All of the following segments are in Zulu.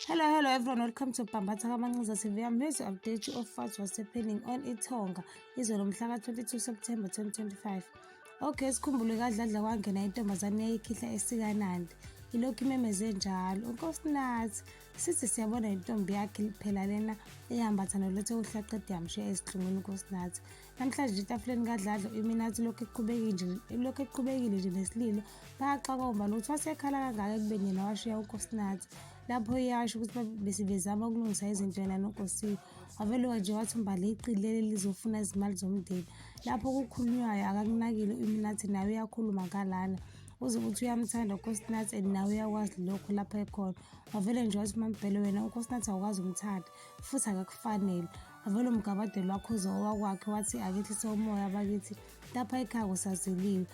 Hello, hello everyone. Welcome to Bambatha Kamancuza TV. I'm here to update you of what was happening on Itonga. Izwe lomhla ka-22 September 2025. Okay, sikhumbule kadladla kwangena intombazane yayikhihla esikanandi. Ilokhu imemeze njalo. UNkosinathi sithi siyabona intombi yakhe liphela lena ehambatha nolethe uhlaqede yamshiya ezihlungwini uNkosinathi. Namhlanje etafuleni kaDladla uIminathi lokhu eqhubekile lokhu eqhubekile nje nesililo bayaxaka umali ukuthi wasekhala kangaka ekubeni yena washiya uNkosinathi lapho iyasho ukuthi besibezama ukulungisa izinto yena noNkosiwe waveluka nje wathi umbali iqili leli lizofuna izimali zomndeni lapho kukhulunywayo akakunakile uIminathi naye uyakhuluma ngalana uze ukuthi uyamthanda unkosinathi and nawe uyakwazi lokho lapho ekhona wavele nje wathi umambhele wena unkosinathi awukwazi umthanda futhi akakufanele avele umgabadeli wakhoza owakwakhe wathi akehlise umoya bakithi lapha ekhaya kusaziliwe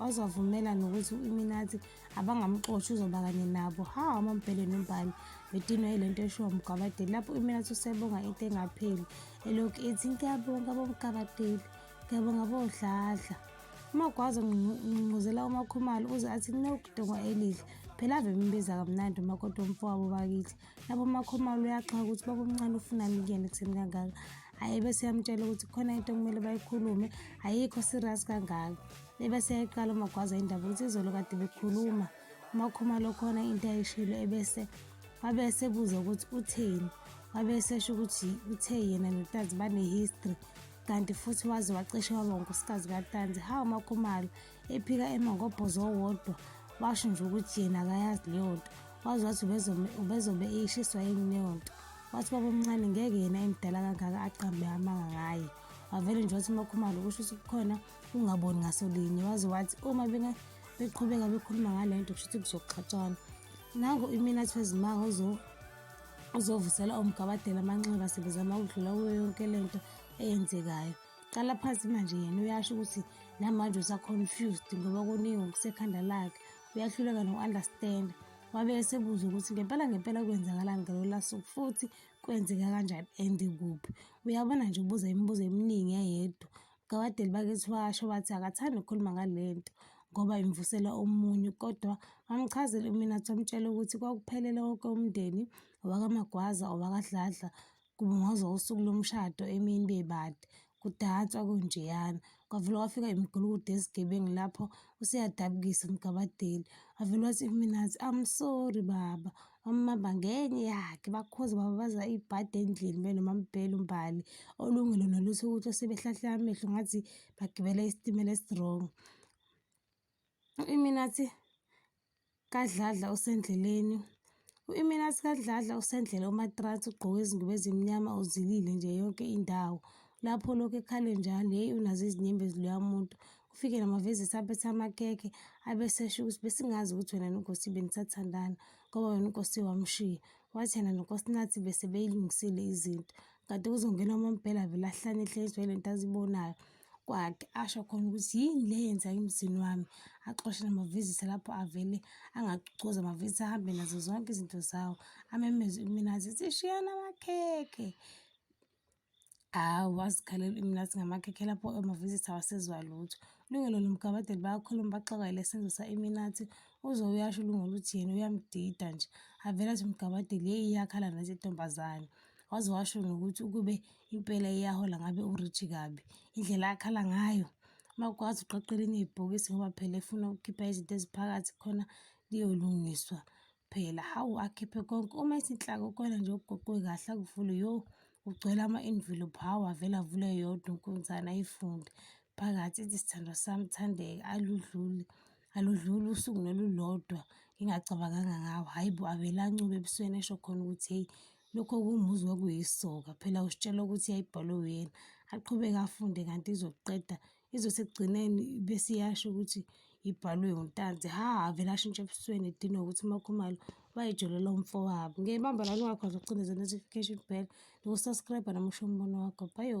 wazwavumela nokuthi u-iminathi abangamxoshi uzoba kanye nabo ha amambhele nombhali bedinwa yile nto eshiwo mgabadeli lapho u-iminathi usebonga into engapheli elokhu ethi ngiyabonga bomgabadeli ngiyabonga bodladla umagwaza ngqungquzela umakhumalo uze athi kunokudongwa elihle phela ave mbiza kamnandi umakoti womfowabo bakithi labo makhomalo uyaxaka ukuthi babomncane ufunani kuyena ekutheni kangaka hhayi bese yamtshela ukuthi khona into okumele bayikhulume ayikho serious kangaka ebese yayiqala umagwaza indaba ukuthi izolo kade bekhuluma umakhomalo khona into ayishilo ebese wabe esebuza ukuthi utheni wabe esesho ukuthi uthe yena notazi bane-history kanti futhi waze wacishe waba unkosikazi katanzi hawu makhumalo ephika emangobhozo owodwa washo nje ukuthi yena akayazi leyo nto wazi wathi ubezobe eyishiswa yini leyo nto wathi babomncane ngeke yena emdala kangaka aqambe amanga ngaye wavele nje wathi umakhumalo kusho ukuthi kukhona ungaboni ngaso linye waze wathi uma beqhubeka bekhuluma ngale nto kusho ukuthi kuzoxhatshwana nango imina athi wezimanga uzovusela umgabadela amanxeba sebezama ukudlula kuyo yonke le nto eyenzekayo qala phansi manje yena uyasho ukuthi namanje usaconfused ngoba kuningi okusekhanda lakhe uyahluleka noku-understanda wabe esebuza ukuthi ngempela ngempela kwenzakalani ngalolu suku futhi kwenzeka kanjani and kuphi uyabona nje ubuza imibuzo eminingi eyedwa kawadeli bakithi washo wathi akathandi ukukhuluma ngale nto ngoba imvusela omunye kodwa wamchazela uminathi wamtshela ukuthi kwakuphelele wonke umndeni owakamagwaza owakadladla kubungazwa usuku lomshado emini bebade kudanswa kunjeyana kwavele kwafika imigulukudu ezigebengu lapho useyadabukisa umgabadeli wavele wathi kuminathi i'm sorry baba wamamba ngenye yakhe bakhozi baba baza ibhadi endlini benoma mbhele umbali olungile noluthi ukuthi osebehlahle amehlo ngathi bagibela isitimela esirongo U-Iminathi kaDladla usendleleni. U-Iminathi kaDladla usendlela uMatransi ugqoke izingubo ezimnyama uzilile nje yonke indawo. Lapho lokhu ekhale njalo, yeyi unazo izinyembezi loya muntu. Ufike namavezisi aphethe amakeke abesesho ukuthi besingazi ukuthi wena noNkosi benisathandana ngoba wena uNkosi wamshiya. Wathi yena noNkosinathi bese beyilungisile izinto. Kade kuzongena uMampela vele ahlane ehlenzwa yile nto azibonayo. kwakhe asho khona ukuthi yini le yenza emzini wami axoshe namavizitha lapho avele angacucoza amavizitha ahambe nazo zonke izinto zawo amemeze iminazi ithi shiyana amakhekhe hawu wazikhalela iminazi ngamakhekhe lapho amavizitha wasezwa lutho lungelo nomgabadeli bayakhuluma baxakayele senzo sa-iminathi uze uyasho ulungelo ukuthi yena uyamdida nje avele athi umgabadeli yeyi iyakhala nathi intombazane waze washo nokuthi ukube impela iyahola ngabe uRichi kabi indlela akhala ngayo uma ukwazi uqoqa elinye ibhokisi ngoba phela efuna ukukhipha izinto eziphakathi khona liyolungiswa phela hawu akhiphe konke uma isinhlaka ukhona nje ugoqwe kahle akuvule yo ugcwele ama-envelope hawu avele avule yodwa unkunzana ayifunde phakathi ithi sithandwa sami thandeka aludluli aludluli usuku nolulodwa ngingacabanganga ngawo hhayi bo avele ancube ebusweni esho khona ukuthi hheyi lokho kumuzwa kuyisoka phela usitshela ukuthi yayibhalwe uyena aqhubeke afunde kanti izoqeda izothi ekugcineni bese iyasho ukuthi ibhalwe untanzi ha avele ashintshe ebusweni edinwa ukuthi umakhumalo wayijolela umfowabo ngiyayibamba lani wakho azocindezela notification bell nokusubscribe namusho umbono wakho bayo